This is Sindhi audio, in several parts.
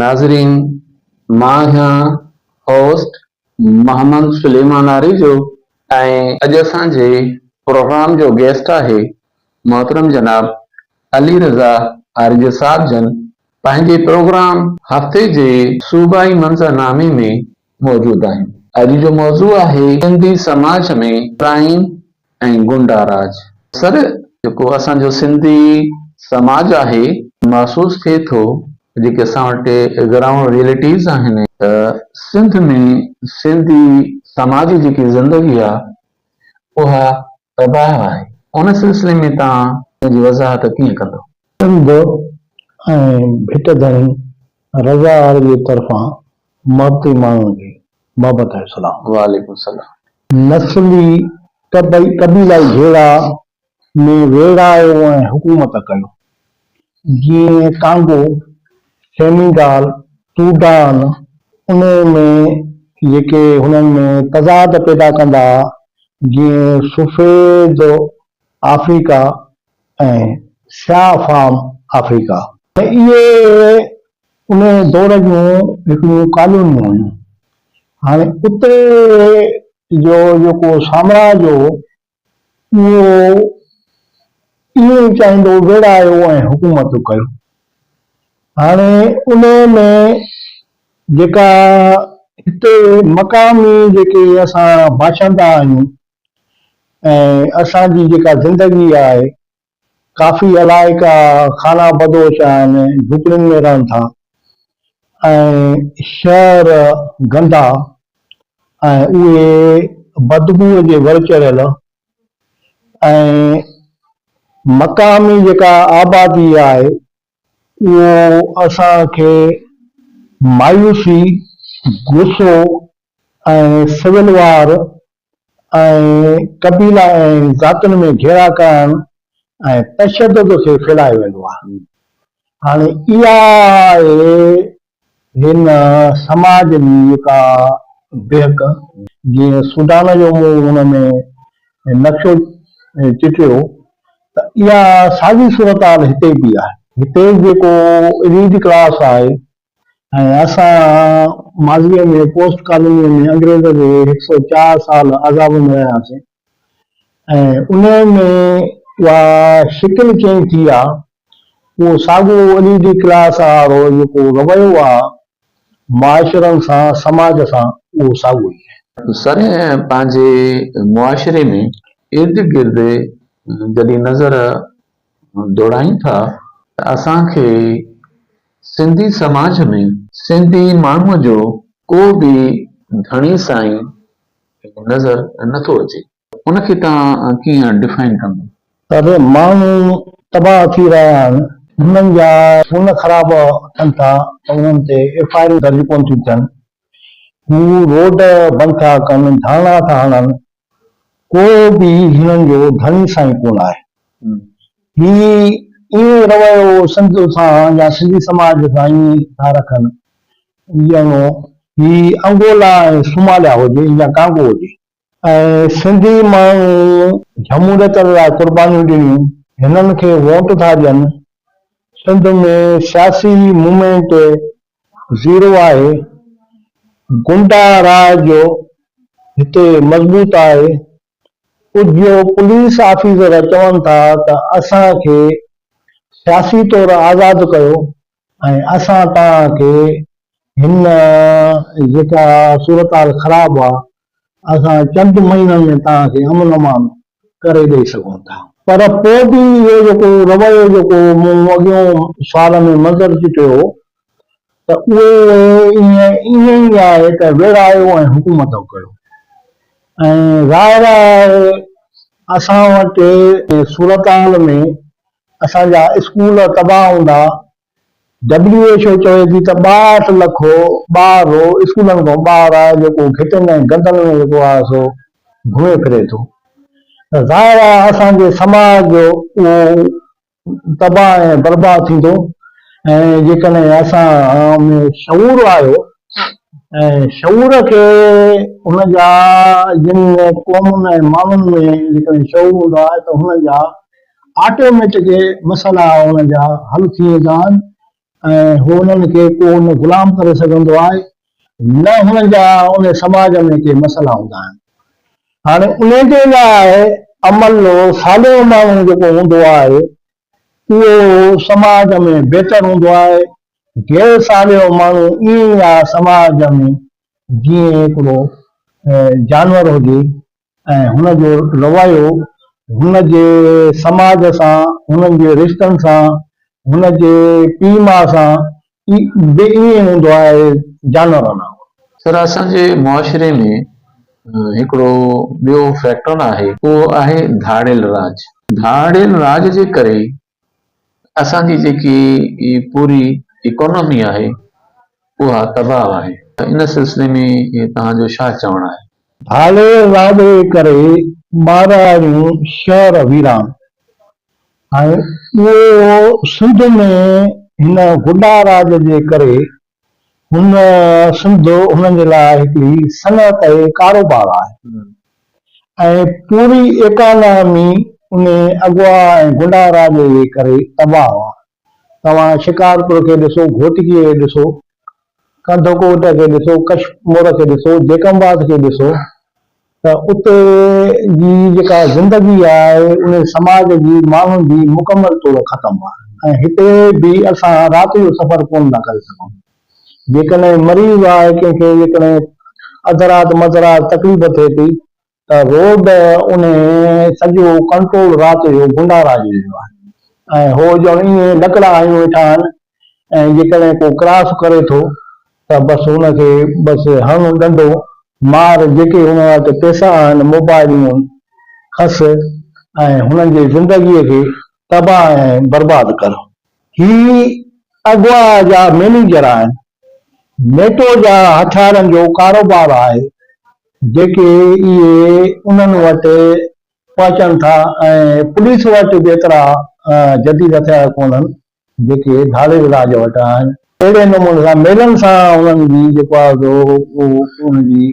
ناظرين مان آهيان هوسٽ محمد سليمان آريجو ۽ اڄ اسان جي پروگرام جو گيسٽ آهي محترم جناب علي رضا آريجو صاحب جن پنهنجي پروگرام هفتي جي صوبائي منظرنامي ۾ موجود آهن. اڄ جو موضوع آهي سنڌي سماج ۾ ڪرائيم ۽ غنڊا راڄ. سر جيڪو اسان جو سنڌي سماج آهي محسوس ٿئي ٿو جيڪي اسان وٽ گرائونڊ ريئلٽيز آهن ته سنڌ ۾ سنڌي سماج جي جيڪي زندگي آهي اها تباهه آهي، ان سلسلي ۾ توهان پنهنجي وضاحت ڪيئن ڪندو؟ سنڌ ۽ ڀٽ ڌڻي رضا عارضيء طرفان محبتي ماڻهن کي محبت ۽ سلام. وعليڪم السلام. نسلي قبيلائي جهيڙا ۾ ويڙهايو ۽ حڪومت ڪيو. جيئن ڪانگو، سينيگال، سوڊان، انهي ۾ جيڪي هنن ۾ تضاد پيدا ڪندا ها، جيئن سفيد آفريڪا ۽ سياهه فام آفريڪا. اهي انهي دور جون هڪڙيون ڪالونيون هيون. هاڻي اتي جو جيڪو سامراج هو، اهو ائين ئي چاهيندو ويڙهايو ۽ حڪومتون ڪيو. هاڻي انهيء ۾ جيڪا هتي مقامي جيڪي اسان باشندا آهيون ۽ اسان جي جيڪا زندگي آهي ڪافي علائقا خانه بدوش آهن، جهوپڙين ۾ رهن ٿا ۽ شهر گندا ۽ اهي بدبوء جي ور چڙهيل ۽ مقامي جيڪا آبادي آهي اهو اسان کي مايوسي، غصو ۽ سول وار ۽ قبيلا ۽ ذاتن ۾ گهيرا ڪرڻ ۽ تشدد کي ڦيلائي ويندو آهي. هاڻي اها آهي هن سماج جي ڪا بهڪ جيئن سوڊان جو مون هن ۾ نقشو چٽيو ته اها ساڳي صورتحال هتي به آهي. هتي جيڪو اليٽ ڪلاس آهي ۽ اسان ماضيء ۾ پوسٽ ڪالونيء ۾ انگريز جي هڪ سؤ چار سال عذاب ۾ رهياسين، ۽ انهيء ۾ اها شڪل چينج ٿي آ، اهو ساڳيو عليدي ڪلاس آ وارو جيڪو رويو آ، معاشرن سان، سماج سان، اهو ساڳيو ئي آهي. سرء پنهنجي معاشري ۾ ارد گرد جڏهن نظر ڊوڙايون ٿا ته اسان کي سنڌي سماج ۾، سنڌي ماڻهوء جو ڪو به ڌڻي سائين نظر نه ٿو اچي. ان کي توهان ڪيئن ڊفائن ڪندو؟ پر ماڻهو تباهه ٿي رهيا آهن. هنن جا فون خراب ٿين ٿا ته انهن تي ايف آء آرون درج ڪونه ٿيون ٿين. هو روڊ بند ٿا ڪن، ڌرڻا ٿا هڻن. ڪو به هنن جو ڌڻي سائين ڪونه آهي. هي ايئن رويو سنڌ سان يا سنڌي سماج سان ايئن ٿا رکن ڄڻو هي انگولا ۽ صوماليا هجي يا ڪانگو هجي. ۽ سنڌي ماڻهو جهموليتن لاء قربانيون ڏنيون هنن کي ووٽ ٿا ڏين. سنڌ ۾ سياسي مومينٽ زيرو آهي. گنڊا راء جو هتي مضبوط آهي ڪجهه پوليس آفيسر چون ٿا ته اسان کي سياسي طور آزاد ڪيو ۽ اسان توهان کي هن جيڪا صورتحال خراب آ اسان چند مهينن ۾ توهان کي امن امان ڪري ڏئي سگهون ٿا. پر پوء به اهو جيڪو رويو جيڪو مون اڳيون سوال ۾ منظر چٽيو هو ته اهي ائين ئي آهي ته ويڙهايو ۽ حڪومتون ڪيو ۽ ظاهر آهي اسان وٽ جنهن صورتحال ۾ اسان جا اسڪول تباهه هوندا، ڊبليو ايڇ او چوي ٿي ته ٻاهٺ لک ٻار رو اسڪولن کان ٻاهر آهي جيڪو گهٽين ۽ گندن ۾ جيڪو آهي سو گهمي ڦري ٿو ته ظاهر آهي اسان جي سماج جو اهو تباهه ۽ برباد ٿيندو ۽ جيڪڏهن اسان ۾ شعور آيو ۽ شعور کي هن جا جن قومن ۽ ماڻهن ۾ جيڪڏهن شعور هوندو آهي ته هن جا آٽوميٽڪ مسئلا هن جا حل ٿي ويندا آهن ۽ هو انهن کي ڪو نه غلام ڪري سگهندو آهي نه هن جا ان سماج ۾ ڪي مسئلا هوندا آهن. هاڻي انهي جي لاء عمل صالح ماڻهو جيڪو هوندو آهي اهو سماج ۾ بهتر هوندو آهي، غير صالح ماڻهو ائين ئي آهي سماج ۾ جيئن هڪڙو جانور هجي ۽ هن جو رويو هن جي سماج سان، هنن جي رشتن سان، هن جي پيء ماء سان به ائين هوندو آهي جانورن وانگر. سر اسان جي معاشري ۾ هڪڙو ٻيو فيڪٽر آهي اهو آهي ڌاڙيل راڄ. ڌاڙيل راڄ جي ڪري اسان جي جيڪي هي پوري اڪانومي آهي اها تباهه آهي ته ان سلسلي ۾ توهان جو ڇا چوڻ آهي؟ هاڙهي واڳڙي ڪري مارئاڙيون شهر ويران ۽ اهو سنڌ ۾ هن غنڊاراڄ جي ڪري هن سنڌ هنن جي لاء هڪڙي صنعت ۽ ڪاروبار آهي ۽ پوري ايڪانامي ان اغوا ۽ گنڊا راڄ جي ڪري تباهه آهي. توهان شڪارپور کي ڏسو، گهوٽڪيء کي ڏسو، ڪنڌڪوٽ کي ڏسو، ڪشمور کي ڏسو، جيڪب آباد کي ڏسو، ته اتي جي جيڪا زندگي آهي ان سماج جي ماڻهن جي مڪمل طور ختم آهي ۽ هتي به اسان رات جو سفر ڪونه ٿا ڪري سگهون جيڪڏهن مريض آهي ڪنهن کي جيڪڏهن اڌ رات مڌ رات تڪليف ٿئي ٿي ته روڊ ان سڄو ڪنٽرول رات جو گنڊا راڄ جو آهي ۽ هو ڄڻ ائين لڪڙا هنيون ويٺا آهن ۽ جيڪڏهن ڪو ڪراس ڪري ٿو ته بس هن کي بس هڻ ڏنڊو مار جيڪي هن وٽ پيسا آهن موبائلون کس ۽ هنن جي زندگي کي تباهه ۽ برباد ڪر. هي اغوا جا مينيجر آهن. نيٽو جا هٿيارن جو ڪاروبار آهي جيڪي اهي انهن وٽ پهچن ٿا ۽ پوليس وٽ به ايترا جديد هٿيار ڪونهن جيڪي ڌاڙيل راڄ وٽ آهن. اهڙي نموني سان ميلن سان انهن جي جيڪو آهي سو انهن جي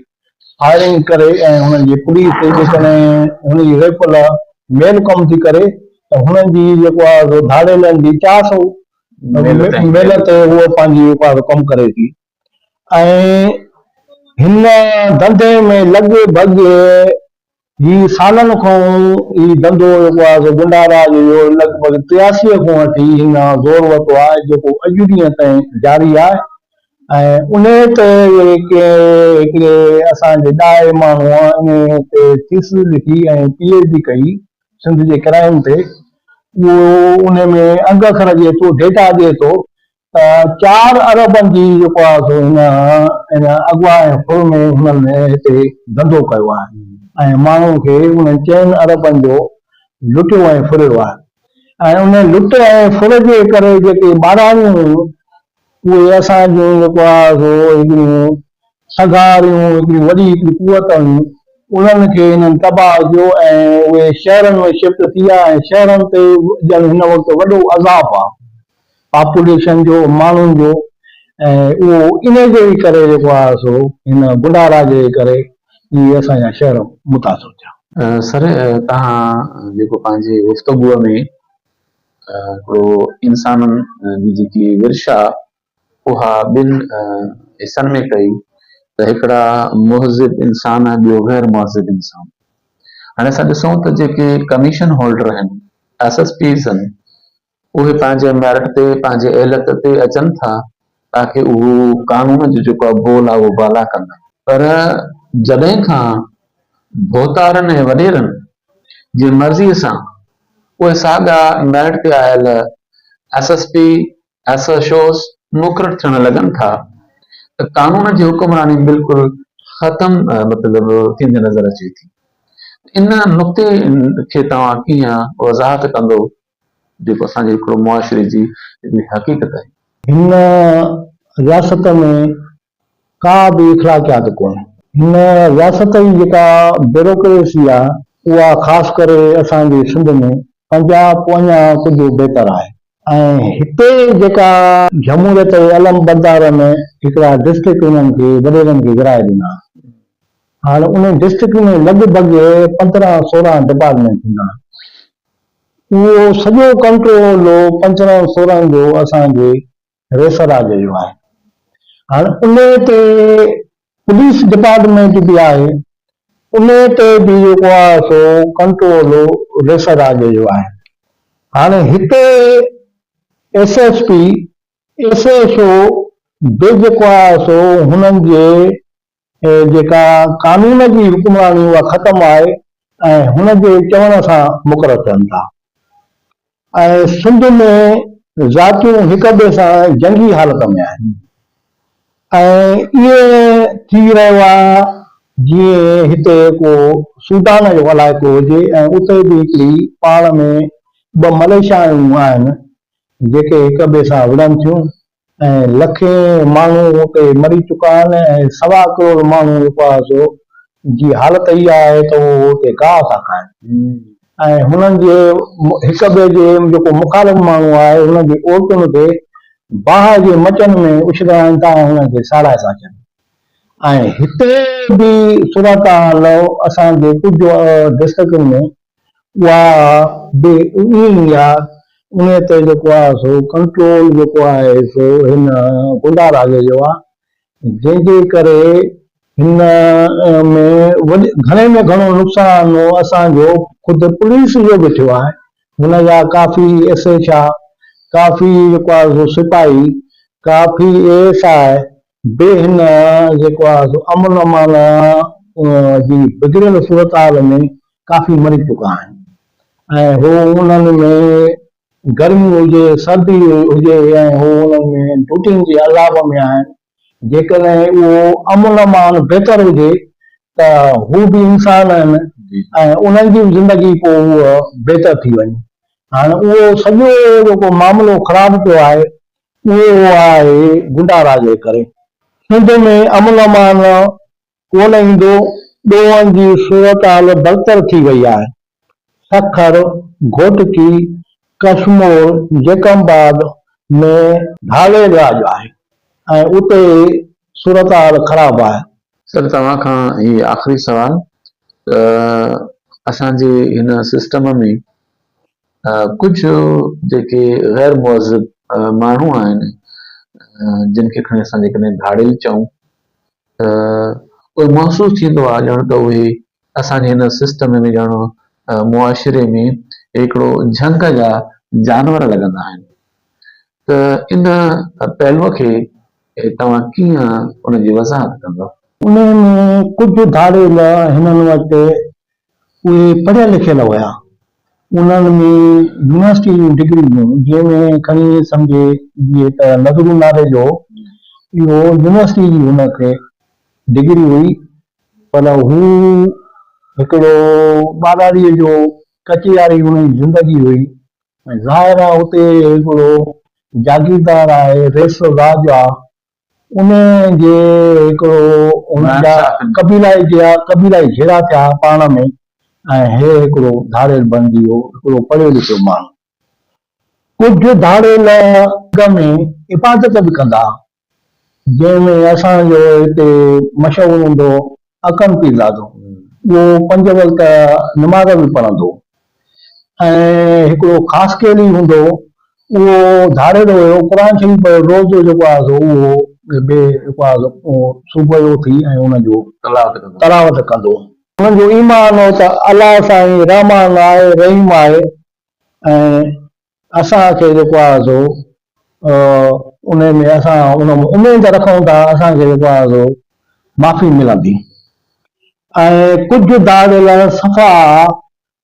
فائرنگ ڪري ۽ انهن جي پوليس جيڪڏهن انهن جي ريفل ميل ڪم ٿي ڪري ته انهن جي جيڪو آهي سو ڌاڙيلن جي چار سئو ميل تي هوء پنهنجي جيڪو آهي سو ڪم ڪري ٿي. ۽ هن ڌنڌي ۾ لڳ ڀڳ هي سالن کان هي ڌنڌو جيڪو آهي سو گنڊارا جو اهو لڳ ڀڳ ٽياسي کان وٺي هن زور ورتو آهي جيڪو اڄ ڏينهن تائين جاري آهي ۽ انهي تي ڪنهن هڪڙي اسان جي ڏاهي ماڻهوء انهي تي ٿيسز لکي ۽ پي ايڇ ڊي ڪئي سنڌ جي ڪرائيم تي اهو انهي ۾ انگ اکر ڏئي ٿو ڊيٽا ڏئي ٿو ته چار اربن جي جيڪو آهي سو هن ان اغوا ۽ ڦر ۾ هنن هتي ڌنڌو ڪيو آهي ۽ ماڻهن کي انهن چئن اربن جو لٽيو ۽ ڦريو آهي ۽ ان لٽ ۽ ڦر جي ڪري جيڪي ٻاراڻيون هيون اهي اسان جون جيڪو آهي سو هڪڙيون سگهاريون هڪڙيون وڏي هڪڙي قوت هيون انهن کي هنن تباهه ڪيو ۽ اهي شهرن ۾ شفٽ ٿي ويا ۽ شهرن تي ڄڻ هن وقت وڏو عذاب آهي. پاپوليشن جو ماڻهن جو ۽ اهو انهي جي ئي ڪري جيڪو آهي سو هن بڊا راجي جي ڪري ئي اسان جا شهر متاثر ٿيا. سر توهان جيڪو پنهنجي گفتگوء ۾ هڪڙو انسانن جي جيڪي ورشا اها ٻن حصن ۾ ڪئي ته هڪڙا مهذب انسان ۽ ٻيو غير مهذب انسان هاڻي اسان ڏسون ته جيڪي ڪميشن هولڊر آهن ايس ايس پيز آهن اهي پنهنجي ميرٽ تي پنهنجي اهليت تي اچن ٿا تاڪه اهو قانون جو جيڪو بول آهي اهو بالا ڪن. پر جڏهن کان ڀوتارن ۽ وڏيرن جي مرضي سان اهي ساڳا ميرٽ تي آيل S S P, S H Os مقرر ٿيڻ لڳن ٿا ته قانون جي حڪمراني بلڪل ختم مطلب ٿيندي نظر اچي ٿي. ان نقطي کي توهان ڪيئن وضاحت ڪندو جيڪو اسان جي هڪڙو معاشري جي هڪڙي حقيقت آهي. هن رياست ۾ ڪا به اخلاقيات ڪونهي. هن رياست جي جيڪا بيروڪريسي آهي اها خاص ڪري اسان جي سنڌ ۾ پنجاب اڃا ڪجهه بهتر آهي. ۽ هتي جيڪا جمهوريت جي علمبردار ۾ هڪڙا ڊسٽرڪٽ انهن کي وڏيرن کي ورهائي ڏنا هاڻ انهي ڊسٽرڪٽ ۾ لڳ ڀڳ پندرهن سورهن ڊپارٽمينٽ هوندا اهو سڄو ڪنٽرولو پنچرن سورن جو اسان جي ريسراج جو آهي. هاڻ انهي تي پوليس ڊپارٽمينٽ به آهي، انهي تي به جيڪو آهي سو ڪنٽرولو ريسراج جو آهي. هاڻ هتي S S P, S H O به جيڪو آهي سو هنن جي ۽ جيڪا قانون جي حڪمراني اها ختم آهي ۽ هن جي چوڻ سان مقرر ٿين ٿا ۽ سنڌ ۾ ذاتيون هڪ ٻئي سان جنگي حالت ۾ آهن ۽ ائين ٿي رهيو آهي جيئن هتي ڪو سوڊان جو علائقو هجي ۽ اتي به هڪڙي پاڙ ۾ ٻه مليشيائون آهن جيڪي هڪ ٻئي سان وڙهن ٿيون ۽ لکين ماڻهو اتي مري چڪا آهن ۽ سوا ڪروڙ ماڻهو جيڪو آهي سو جي حالت اها آهي ته اهو اتي گاهه ٿا کائن ۽ هنن جي هڪ ٻئي جي جيڪو مخالف ماڻهو آهي هنن جي عورتن کي باهه جي مچن ۾ اڇلاين ٿا ۽ هنن کي ساڙائي ٿا اچن ۽ هتي به صورتحال اسان جي ڪجهه ڊسٽرڪٽن ۾ اها به ائين ئي آ، انهيء تي جيڪو آ سو ڪنٽرول جيڪو آهي سو هن گنڊا راڄ جو آ، جنهن جي ڪري هن ۾ وڏي گهڻي ۾ گهڻو نقصان اسان جو خود پوليس جو به ٿيو آهي، هن جا ڪافي ايس ايڇ آ، ڪافي جيڪو آ سو سپاهي، ڪافي اي ايس آء، به هن جيڪو آهي سو امن امان جي بگڙيل صورتحال ۾ ڪافي مري چڪا آهن ۽ هو انهن ۾ گرمي هجي سردي هجي ۽ هو انهن ۾ ڊوٽين جي عذاب ۾ آهن جيڪڏهن اهو امن امان بهتر هجي ته هو به انسان آهن ۽ انهن جي به زندگي پوء هوء بهتر ٿي وڃي هاڻ اهو سڄو جيڪو معاملو خراب پيو آهي اهو آهي گنڊا راڄ جي ڪري سنڌ ۾ امن امان ڪونه ايندو، ڏوهن جي صورتحال بدتر ٿي وئي آهي، سکر، گهوٽڪي، ڪشمور، جيڪب آباد ۾ ڌاڙيل راڄ آهي ۽ اتي صورتحال خراب آهي. سر توهان کان هي آخري سوال ته اسان جي هن سسٽم ۾ ڪجهه جيڪي غير مهذب ماڻهو آهن جن کي کڻي اسان جيڪڏهن ڌاڙيل چئون ته اهي محسوس ٿيندو آهي ڄڻ ته اهي اسان جي هن سسٽم ۾ ڄڻ معاشري ۾ هڪڙو جهنگ جا جانور لڳندا آهن ته ان پهلو کي توهان ڪيئن ان جي وضاحت ڪندو؟ انهي ۾ ڪجهه ڌاڙيل هنن وٽ اهي پڙهيل لکيل هيا. انهن ۾ يونيورسٽيء جون ڊگريون هيون، جنهن ۾ کڻي سمجهي جيئي ته نظرون نالي جو اهو يونيورسٽيء جي هن کي ڊگري هئي، پر هو هڪڙو ٻاراڙيء جو ڪچي واري هن جي زندگي هئي ۽ ظاهر آ اتي هڪڙو جاگيردار آهي، ريس الراجع انهيء جي هڪڙو انهن جا قبيلائي جيا قبيلائي جهيڙا ٿيا ها پاڻ ۾ ۽ هي هڪڙو ڌاڙيل بڻجي ويو، هڪڙو پڙهيو لکيو ماڻهو. ڪجهه ڌاڙيل اڳ ۾ عبادت به ڪندا ها، جنهن ۾ اسان جو هتي مشهور هوندو هو اڪرم پيرزادو اهو پنج وقت نماز به پڙهندو ۽ هڪڙو خاص ڪيلي هوندو اهو ڌاريندو هيو قرآن شريف روز جو جيڪو آهي سو اهو بي جيڪو آهي سو صبح جو اٿي ۽ ان جو تلاوت ڪندو. انهن جو ايمان هو ته الله سائين رحمان آهي رحيم آهي ۽ اسان کي جيڪو آهي سو ان ۾ اسان ان ۾ اميد رکون ٿا اسان کي جيڪو آهي سو معافي ملندي ۽ ڪجهه داڙيل صفا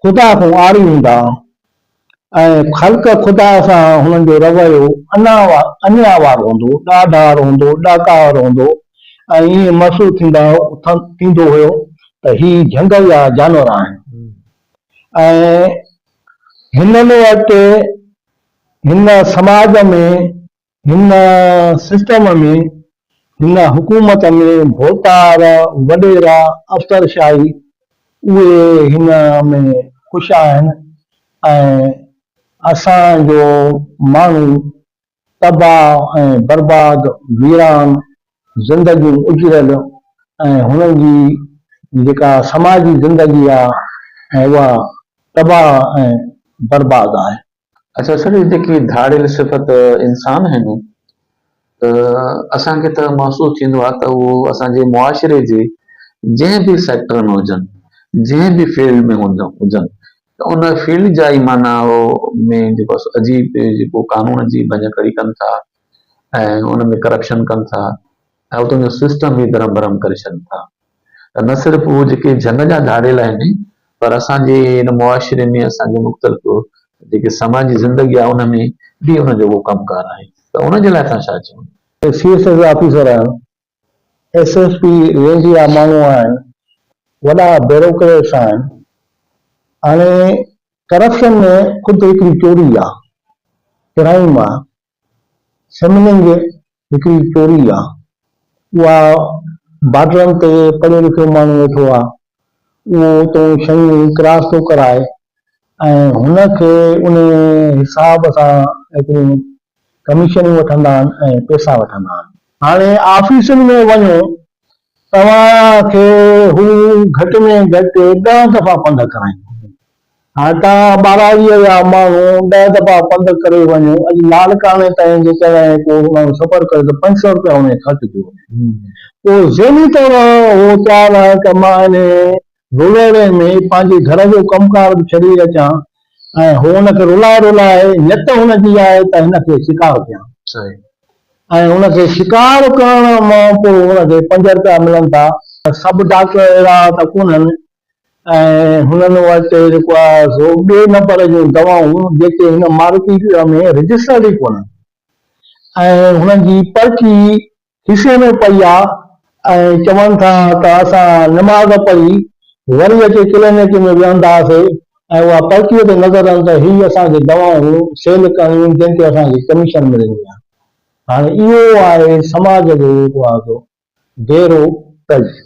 خدا کان عاري هوندا ۽ خلق خدا سان هنن جو رويو انيا وار هوندو، ڏاڍار هوندو، ڏاڪار هوندو ۽ ائين محسوس ٿيندو هيو ته هي جهنگل جا جانور آهن. ۽ هنن وٽ هن سماج ۾ هن سسٽم ۾ هن حڪومت ۾ ڀوتار، وڏيرا، افسرشاهي اهي هن ۾ خوش آهن ۽ اسان جو ماڻهو تباهه ۽ برباد، ويران زندگيون اجڙيل ۽ هنن جي جيڪا سماجي زندگي آ ۽ اها تباهه ۽ برباد آهي. اچا سر هي جيڪي ڌاڙيل صفت انسان آهن ته اسان کي ته محسوس ٿيندو آ ته اهو اسان جي معاشري جي جنهن به سيڪٽر ۾ هجن جنهن به فيلڊ ۾ هجن ته ان فيلڊ جا ئي معنيٰ هو ۾ جيڪو عجيب جيڪو قانون جي ڀڃڪڙي ڪن ٿا ۽ ان ۾ ڪرپشن ڪن ٿا ۽ اتان جو سسٽم ئي درهم برهم ڪري ڇڏن ٿا ته نه صرف هو جيڪي جهنگ جا ڌاڙيل آهن پر اسان جي ان معاشري ۾ اسان جي مختلف جيڪي سماجي زندگي آهي ان ۾ به ان جو اهو ڪم ڪار آهي ته ان جي لاء اسان ڇا چون. سي ايس ايس آفيسر آهيان ايس ايس پي رينج جا ماڻهو آهن وڏا بيروڪريٽس آهن هاڻي ڪرپشن ۾ خود هڪڙي چوري آ ڪرائيم آ سمنگ هڪڙي چوري آ اها بارڊرن تي پڙهيو لکيو ماڻهو ويٺو آ اهو تون شيون ئي ڪراس ٿو ڪرائي ۽ هن کي انهي حساب سان ايتريون ڪميشنون وٺندا آهن ۽ پئسا وٺندا آهن. هاڻي آفيسن ۾ وڃو، توهان کي هو گهٽ ۾ گهٽ ڏهه دفعا پنڌ ڪرائيندو. هاڪا ٻاراڙيء جا ماڻهو ڏهه دٻا پنڌ ڪري وڃون، اڄ لاڙڪاڻي تائين جيڪڏهن ڪو ماڻهو سفر ڪري ته پنج سئو رپيا انهيء خرچ ٿي وڃن. پوء ذهني طور هو تيار آهي ته مان انهيء رولهڙي ۾ پنهنجي گهر جو ڪم ڪار به ڇڏي اچان ۽ هو ان کي رولائي رولائي نيت هن جي آهي ته هن کي شڪار ڪيان ۽ هن کي شڪار ڪرڻ مان پوء هن کي پنج رپيا ملن ٿا. سڀ ڊاڪٽر اهڙا ته ڪونهن ۽ هنن وٽ جيڪو آهي سو ٻئي نمبر جون دوائون جيڪي هن معرفي شعبي ۾ رجسٽرڊ ئي ڪونهن ۽ هنن جي پرچي کيسي ۾ پئي آ ۽ چون ٿا ته اسان نماز پڙهي وري اچي ڪلينڪ ۾ ويهنداسي ۽ اها پرچي تي نظر رهندي ته هي اسان کي دوائون سيل ڪرڻيون جن تي اسان کي ڪميشن ملندي آ هاڻي اهو آهي سماج جو جيڪو آهي سو گهرو تجزيو.